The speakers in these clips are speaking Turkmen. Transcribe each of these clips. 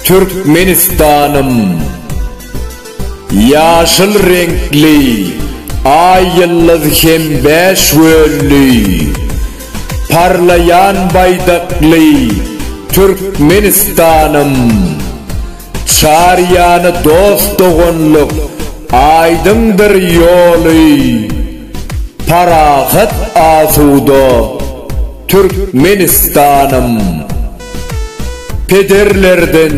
Türkmenistanym Ýaşyl reňkli Aý ýyldyz hem bäş wölli Parlaýan baýdakly Türkmenistanym. Çar ýany dost-doganlyk, aýdyňdyr ýoly, Parahat asuda Türkmenistanym. Pederlerden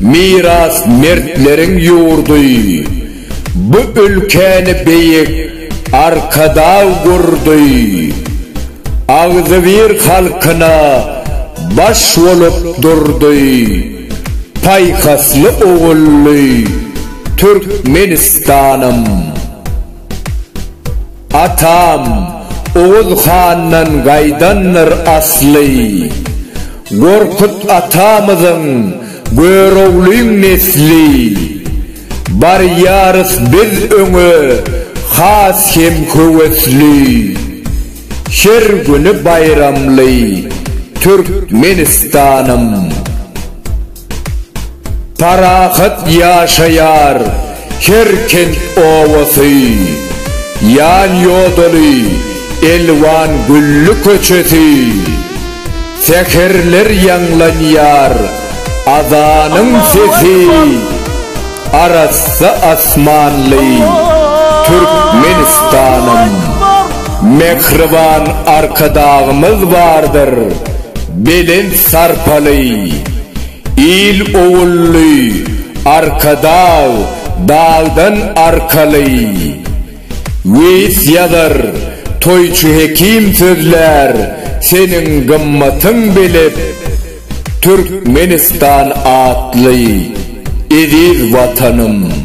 miras mertleriň ýurdy, Bu ülkäni beýik Arkadag gurdy. Agzybir halkyna baş bolup durdy. Paýhasly ogully Türkmenistanym! Atam Oguz handan gaýdandyr asly. Gorkut atamyzyň Göroglyň nesli. Barýarys biz öňe has hem höwesli. Her güni baýramly Türkmenistanym. Parahat ýaşaýar her kent obasy, Ýan-ýodaly elwan gülli köçesi. Säherler ýaňlanýar azanyň sesi, Arassa asmanly Türkmenistanym. Mähriban Arkadagymyz bardyr, belent sarpaly, Il-ogully Arkadag dagdan arkaly. Weýis ýazar, toýçy hekim sözlär, Seniň gymmatyň belet, Türkmenistan atly eziz Watanym!